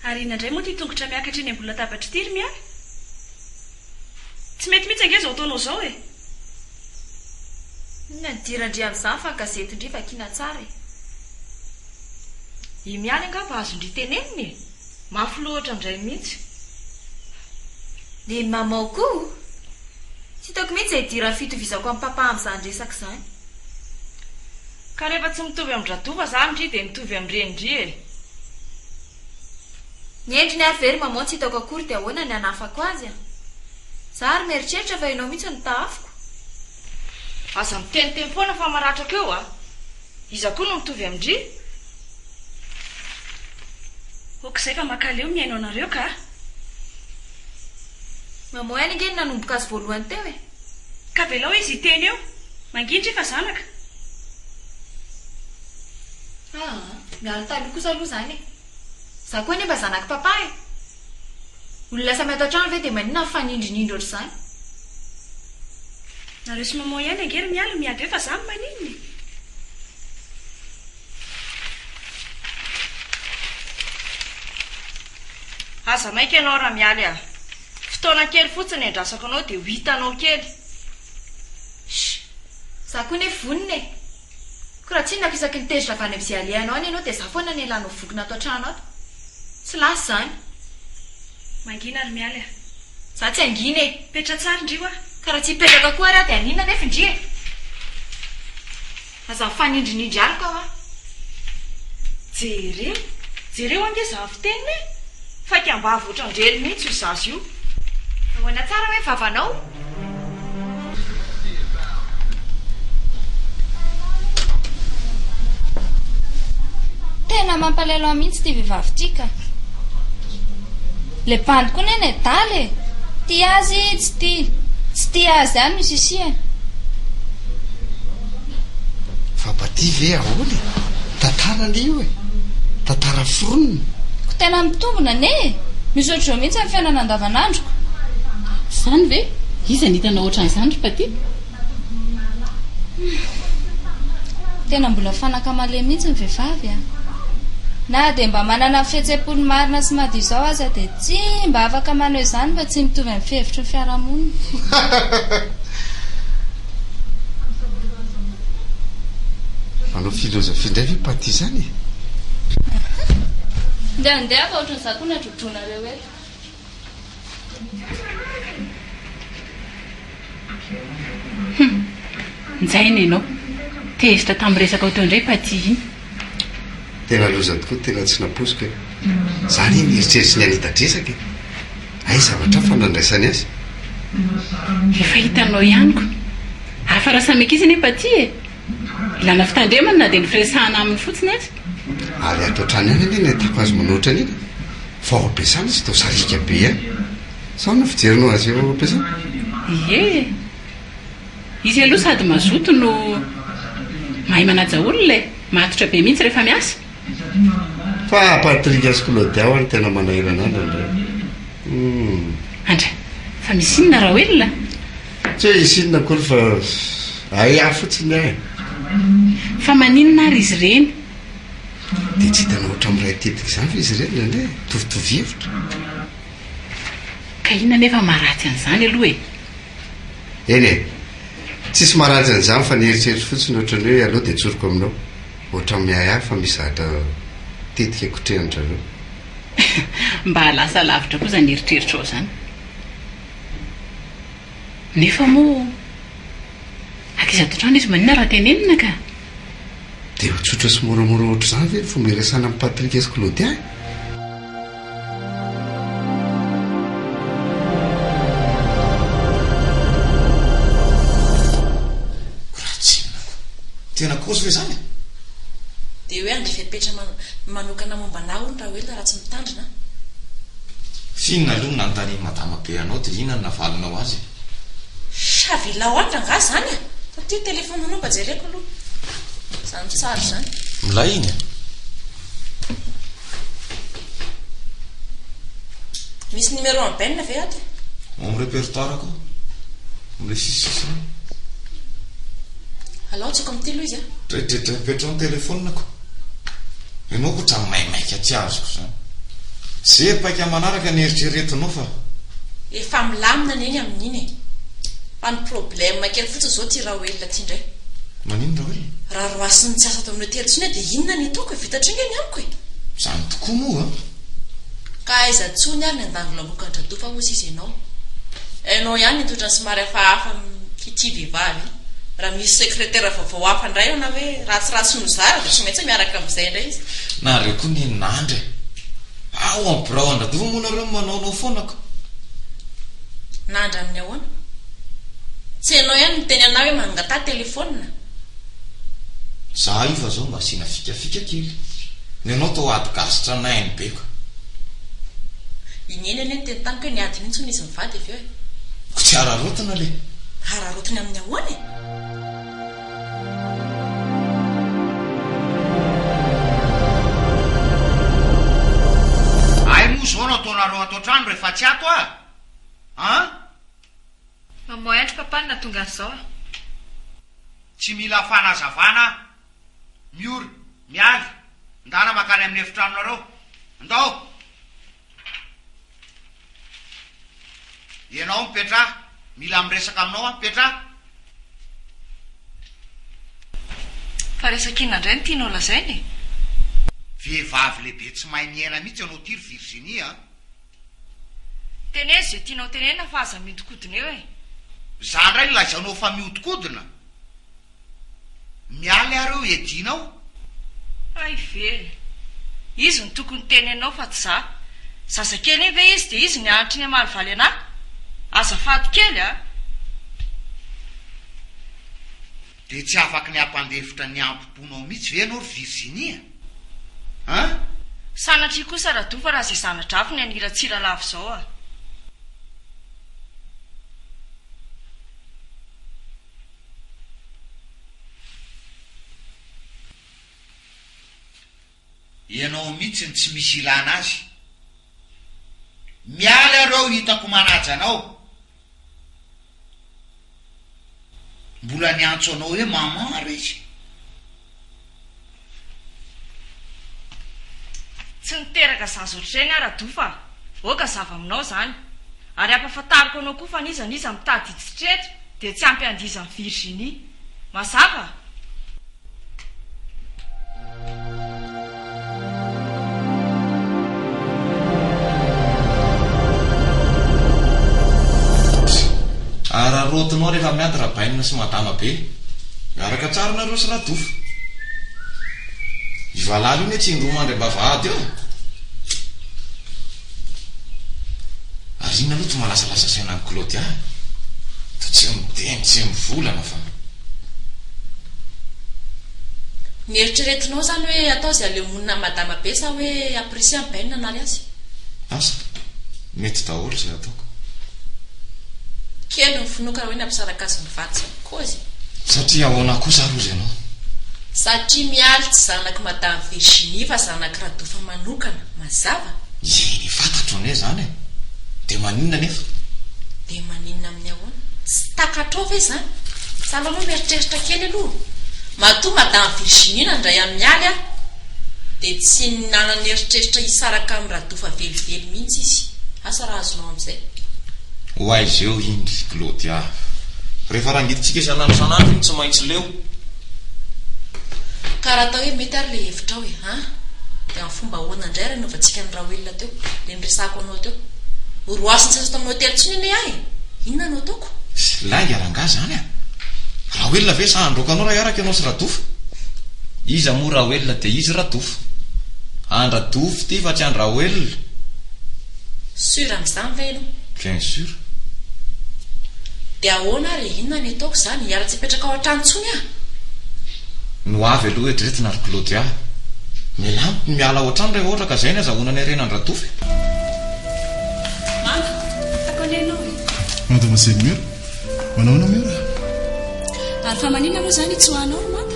Ary inona indray moa ity tongotra miakatra eny ambony latabatra ity ry Mia? Tsy mety mihitsy ange izao ataonao izao e! Inona ny dira ndry amin'izany fa gazety ndry vakiana tsara e! I Mia ary angamba azon-dry tenenina e! Mafy loatra ndray mihitsy. Ny mamao koa o! Tsy hitako mihitsy izay dira fitovizako amin'i Papa amin'izany resaka izany. Ka rehefa tsy mitovy amin-dRadova izany ndry dia mitovy amin'ny reny ndry e! Ny endriny ary ve ry mamao tsy hitako akory dia ahoana ny hanafako azy a! Za ary mieritreritra fa ianao mihitsy no tahafiko. Aza miteny teny foana fa maratra ko eo a! Iza koa no mitovy amin-dry? Ok izay fa makaleo mihaino anareo ka. Mamoy any ange ny nanomboka azy voalohany teo e! Ka avelao izy hiteny eo. Mangindry fa zanaka. Aa, miala taloha kosa aloha izany e! Za koa anie mba zanak'i Papa e! Olona samy ato an-trano ve dia maninona mifanindrinindry ohatr'izany? Nareo sy maman ihany ange ry Mialy miady eo fa za no maninona e! Aza maika ianao Ramialy a! Fotoana kely fotsiny no iandrasako anao dia ho hitanao kely! Sh! Za koa anie vonona e! Ko raha tsinako isaky ny tezitra avy any amzay alehanao any ianao dia za foana anie lanao voky nato antrano ato. Tsy lasa izany. Mangina ry Mialy a! Za tsy hangina e! Petra tsara ndry wa! Ka raha tsy hipetraka koa ary aho dia haninona anefa ndry e! Aza mifanindrinindry araka hoa! Jereo! Jereo ange za avy teny hoe. Faika ambavy otrandrely mihitsy io zaza io. Ahoana tsara hoe vavanao? Tena mampalelo ahy mihitsy ity vehivavy ity ka. Le bandy koa neny e, dala e. Tia azy tsy tia. Tsy tia azy ihany no sisihany. Vabadia ve ahoana e? Tantara anie io e! Tantara foronina. Ko tena mitombina anie e! Misaotra izao mihitsy amin'ny fiainana andavanandroko. Izany ve? Iza no hitanao ohatran'izany ry Paty? Humm. Tena mbola fanaka malemy mihitsy ny vehivavy a! Na dia mba manana ny fihetsem-pony marina sy madio izao aza dia tsy mba afaka manao izany fa tsy mitovy amin'ny fihevitry ny fiarahamonina. Manao philosophie indray ve paty izany e? Ndeha ndeha fa ohatran'ny za koa nadrodronareo eto. Hum, njaina ianao. Tezitra tamin'ny resakao teo indray paty iny. Tena loza tokoa tena tsy nampoiziko e! Za anie nieritreritry ny hanita dresaka e! Hay zavatra hafa no andraisany azy. Efa hitanao ihany ko! Hafa raha samy ankizy anefa aty e! Ilana fitandremana na dia ny firesahana aminy fotsiny aza. Ary ato hatrany ihany anie no ahitako azy manao ohatran'iny fa ao am-piasana izy toa sariaka be ihany. Sao no fijerinao azy eo am-piasana? Ie e! Izy aloha sady mazoto no mahay manaja olona e! Matotra be mihitsy rehefa miasa. Fa Patrick sy Claudia ho'a no tena manahirana an-dry indray humm. Andry, fa misy inona Raoelina? Tsy hoe hisy inona akory fa hay ahy fotsiny aho e! Fa maninona ary izy ireny? Dia tsy hitanao ohatran'ny miray tetika izany ve izy ireny indraindray e? Mitovitovy hevitra. Ka inona anefa maharatsy an'izany aloha e? Eny e! Tsisy maharatsy an'izany fa ny eritreritro fotsiny ohatran'ny hoe aleo dia tsoriko aminao. Ohatran'ny miahy ahy fa misy zavatra tetika kotrehan-dry zareo. Mba lasa lavitra koa izany eritreritrao izany. Nefa moa, ankizy ato an-trano izy maninona raha tenenina ka? Dia ho tsotra sy moramora ohatr'izany ve ny fomba iresahana amin'i Patrick sy Claudia e? Tena kozy ve izany? Dia hoe handeha fepetra manokana momba anà hono Raoelina raha tsy mitandrina? F'inona aloha no nanontanian'i Madama be anao dia inona no navalinao azy e? Chavilaoatra angaha izany e? Ity téléphone anao mba jereko aloha izany tsara izany. Milay iny e! Misy numéro an'i Ben ve ato e? Ao amin'ny répertoire-ko, ao amin'ilay sisisisiny. Alao atsoko amin'ity aloha izy a! Dredredrem-petro ny téléphone-ko. Ianao koa otrany maimaika tsy azoko izany. Ze paika manaraka ny eritreretinao fa. Efa milamina ny eny amin'iny e. Fa ny problème kely fotsiny izao ty Raoelina ty indray. Maninona Raoelina? Raha roasin'ny tsy asa tao amin'ireo telo tsony dia inona ny ataoko e, vita hatreo nge ny amiko e. Izany tokoa moa an. Ka aiza tsony ary ny andangilamoka dra-dofa hoy sisa enao. Enao ihany ny toetra somary hafahafa amin'ity vehivavy ity. Raha misy secretaire vaovao hafa indray ao na hoe ratsiratsy nozara dia tsy maintsy miaraka amin'izay indray izy. Nareo koa ny nandry e! Ao amin'ny birao an-dra-dofa moa nareo no manaonao foana ka. Nandry amin'ny ahoana? Tsy enao ihany niteny anah hoe mangataha telephone? Za io fa zao mba asiana fikafika kely. Ny anao toa ady gasy tranainy be ko. I Neny anie niteny tamiko hoe niady mihitsy hono izy mivady avy eo e. Ko tsy hararaotina le. Hararaotina amin'ny ahoana e? Ay moa zao no ataonareo ato an-trano rehefa tsy ato aho an? Mamoy andry papa no nahatonga an'izao a. Tsy mila fanazavana aho. Miora, miala, ndana makany amin'ny efitranonareo. Ndao! Ianao mipetra, mila miresaka aminao aho, mipetra! Fa resaka inona indray no tianao lazaina e? Vehivavy lehibe tsy mahay miaina mihitsy ianao ity ry Virginie a! Teneno izay tianao tenenina fa aza mihodinkodina eo e! Za ndray no lazainao fa mihodinkodina? Miala ary eo hiadianao. Hay ve! Izy no tokony tenenao fa tsy za. Zazakely iny ve izy dia izy no nianatra iny hamaly valy anà? Azafady kely a! Dia tsy afaky ny hampandefitra ny hampom-ponao mihitsy ve ianao ry Virginia an? Sanatria kosa Rado fa raha izay zana-drafy ny hanira Tsiralavo izao a! Ianao mitsy no tsy misy ilana azy. Miala eo reo hitako manaja anao. Mbola niantso anao hoe maman ary izy. Tsy niteraka zaza ohatr'izay ny ahy Rado fa oka zava aminao izany. Ary ampafantariko anao koa fa n'iza n'iza mitady hitsitretra dia tsy ampy handizan'i Virginie. Mazava? Araraotinao rehefa miady Rabainina sy Madama be. Miaraka tsara nareo sy Radofa. Io valala io ne tsy indroa mandry am-bavahady eo? Ary inona loto malasalasa saina an'i Claudia a! Toa tsy miteny, tsy mivolana fa. Ny eritreretinao zany hoe atao izay aleo monina madama be sa hoe apprécier an'i Ben hanary azy? Asa, mety daholo izay ataoko. Kely ny finoako raha hoe nampisaraka azy ny vadiny. Koa izy. Satria ahoana kosa ary hozy ianao? Satria Mialy tsy zanak'i Madame Virginie fa zanak'i Radofa manokana, mazava? Eny, fantatro anie izany e! Dia maninona anefa? Dia maninona amin'ny ahoana? Tsy takatrao ve izany? Tsalao aloha mieritreritra kely aloha. Matoa Madame Virginie nandray an'i Mialy ary dia tsy nanana eritreritra hisaraka amin'i Radofa velively mihitsy izy. Asa raha azonao amin'izay. Ho aiza eo iny ry Claudia. Rehefa rangidintsika isan'andro isan'andro iny tsy maintsy leo. Ka raha atao hoe mety ary ilay hevitrao e an! Dia amin'ny fomba ahoana indray ary hanaovantsika an'i Raoelina teo, ilay niresahako anao teo. Ho roasy ny seza tao amin'ny hotely intsony anie aho e! Inona no ataoko? Tsy lainga rangahy izany an! Raoelina ve sa handroaka anao raha hiaraka ianao sy Rado fa? Iza moa Raoelina dia izy Rado? Andra dofy ity fa tsy an-dRaoelina. Sûr amin'izany ve ianao? Bien sûr. Dia ahoana ary e? Inona ny ataoko izany? Hiala tsy hipetraka ao an-trano intsony aho. No avy aloha eto ireto na ry Claudia. Mila amiko ny miala ao an-trano rehefa ohatra ka izay ny azahoana ny harena an-dRa dofy. Mama, hitako anie ianao e. Mademoiselle Mura, manao ahoana Mura? Ary fa manina moa izany i Tsoa anao ry Mama?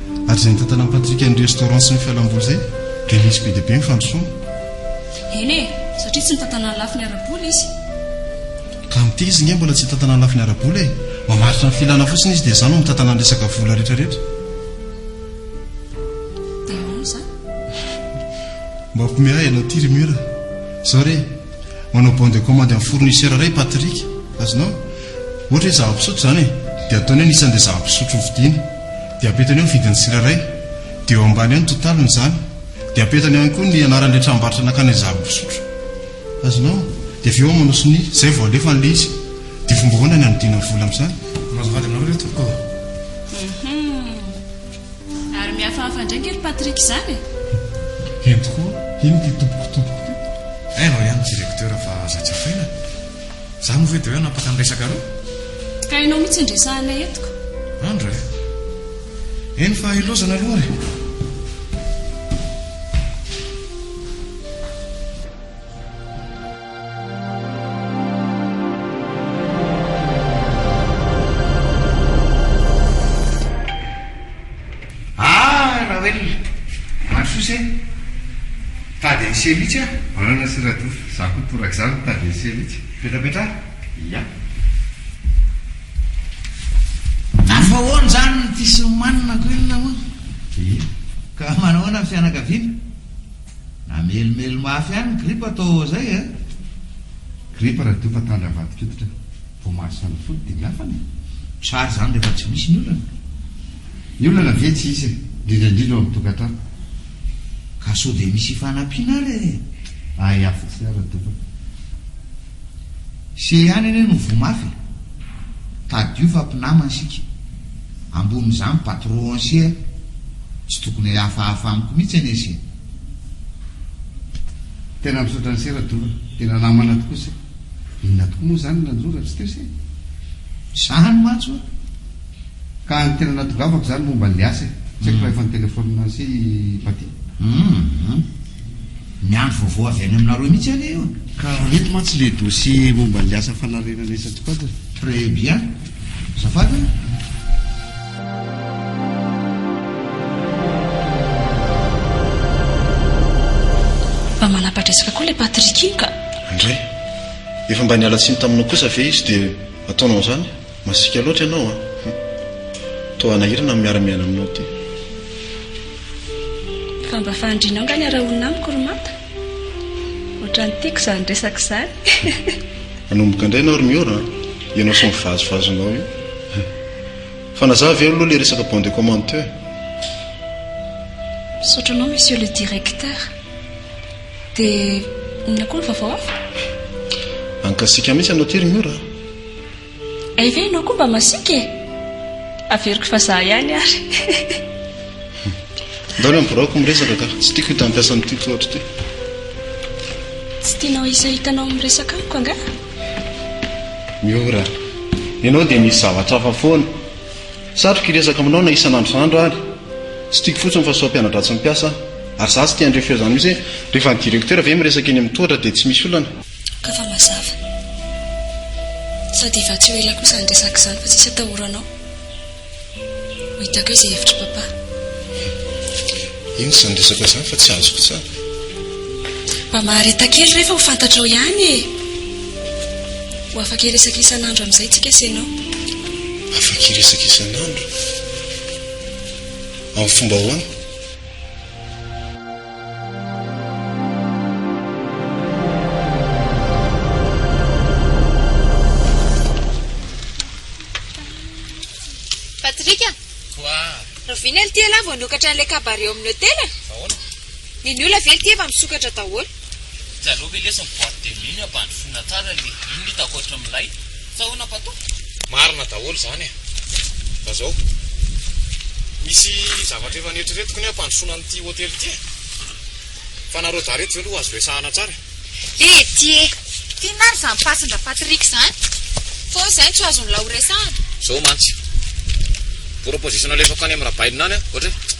Ary izay nitantanan'i Patrick an'ny restaurant sy ny fialamboly izay dia nisy be dia be ny fandrosoana. Eny e, satria tsy nitantanan'ny lafiny ara-bola izy. Ka ny tezy nge mbola tsy hitantanan'ny lafiny ara-bola e! Mamaritra ny filana fotsiny izy dia izany no mitantanan'ny resaka vola rehetra rehetra. Dia ahoana izany? Mampiomehy ahy ianao ity ry Mura. Izao re, manao bon de commande amin'ny fournisseur iray i Patrick. Azonao? Ohatra hoe zava-pisotro izany e, dia ataony hoe ny isan'ilay zava-pisotro hovidiana. Dia apetany eo ny vidin'ny tsirairay. Dia eo ambany eo ny totaliny izany. Dia apetany eo ihany koa ny anaran'ilay tranombarotra nakana izany mpisotro. Azonao? Dia avy eo manao sonia. Izay vao alefa an'ilay izy. Dia fomba ahoana ny hanodinana ny vola amin'izany? Mahazo vady aminareo ve tompoko ô? Hum. Ary mihafahafa indray ange ry Patrick izany e! Heno tokoa, hino ity tompoko tompoko ity. Hay vao ihany ny directeur fa aza jifaina. Za moa ve de hoe hanapaka ny resaka reo? Ka ianao mihitsy indresahana eto ka. Andra eh. Eny fa ilozana aloha ary. Ah Rawelina, maro soa se, tady an'i se mihitsy ah. Anana sy Radofa, za koa torak zany tady an'i se mihitsy. Petrapetraha? Ia. Afahoana zany ny fisimanina ko inona moa? Ia. Ka manahoana ny fianakaviana? Namelimely mafy ihany ny gripa too zay eh. Gripa Radofa tany avadik'oditra, voamaso any fody dia miafana eh. Tsara zany rehefa tsy misy ny olana. Ny olana ve tsy hisy e, indrindra indrindra ao amin'ny tokantrano. Ka sao dia misy hifanampiana ary e! Hay hafa sy ara tompoko. Ise ihany anie no voa mafy e! Tadidio fa mpinamana isika. Ambonin'izany patron ise a! Tsy tokony hihafahafa amiko mihitsy anie ise e! Tena misaotra an'ise Radovan, tena namana tokoa ise. Inona tokoa moa izany no nanjo raha tsy teo ise? Izany mantsy ho'a! Ka ny tena nahatongavako izany momba an'ilay asa e. Tsy haiko raha efa nitelefaonina sy i Patty. Humm. Miandry vaovao avy any aminareo mihitsy aho anie. Ka eto mantsy ilay dossier momba an'ilay asa fanarenana isan-tsokajiny. Très bien. Azafady an. Mba manapa-dresaka koa ilay Patrick iny ka. Indray. Efa mba niala tsiny taminao kosa ve izy dia ataonao an'izany? Masiaka loatra ianao a! Hum. Toa hanahirana ny miara-miaina aminao ity. Fa mba fahandrinao nga ny arahonina amiko ry Mata? Ohatran'ny tiako izany resaka izany. Hanomboka indray ianao ry Miora a! Ianao sy ny vazovazonao io. Fa nazaha ve aloha ilay resaka bon de commande teo e? Misaotra anao Monsieur le Directeur. Dia inona koa ny vaovao hafa? Ankasiaka mihitsy ianao ity ry Miora a! Hay ve ianao koa mba masiaka e? Averiko fa za ihany ary. Ndao ny biraoko miresaka ka. Tsy tiako hita hampiasa amin'ity toa ohatr'ity. Tsy tianao hisy hitanao miresaka amiko angaha? Miora. Ianao dia misy zavatra hafa foana. Satriko hiresaka aminao na isan'andro isan'andro ary. Tsy tiako fotsiny fa sao mpiana-dratsy mpiasa aho. Ary za tsy te handre feo izany mihitsy hoe rehefa ny directeur ve miresaka eny amin'ny tohatra dia tsy misy olana? Ka fa mazava. Sady efa tsy ho ela koa izany resaka izany fa tsisy atahoranao. Ho hitako eo izay hevitr'i Papa. Inona izany resaka izany fa tsy azoko tsara? Mba mahareta kely rehefa ho fantatrao ihany e! Ho afaka hiresaka isan'andro amin'izay tsika sy ianao. Afaka hiresaka isan'andro? Amin'ny fomba ahoana? Patrick a! Quoi? Rahoviana ity ialahy vao nokatra an'ilay cabaret ao amin'ny hotel a? Ahoana? Ny ny olona ve ity efa misokatra daholo? Hitanao ve lesy ny boîte de nuit-ny ampandrosoina tsara anie? Inona hitako ankoatran'ilay? Sahonapa tompoko. Marina daholo izany e. Fa izao, misy zavatra efa neritreretiko ny hoe hampandrosoana an'ity hotely ity e. Fa nareo dahy ireto ve aloha azo resahana tsara e? Lety e! Inona ary izany pasin-dRapatrick izany? Fa hoy izahay tsy ho azon'ny lahy horesahana. Izao mantsy, proposition nalefako any amin'ny Rabailina any an, ohatra hoe,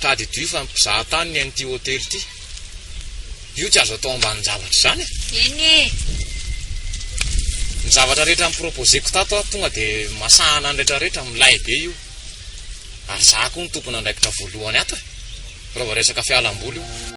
Tadidio fa mpizaha tany ny an'ity hotely ity. Io tsy azo atao ambanin-javatra izany e! Eny e! Ny zavatra rehetra ni-proposer-ko tato aho tonga dia masahana ny rehetrarehetra, milay be io. Ary izaho koa no tompon'andraikitra voalohany ato e! Raha vao resaka fialam-boly io.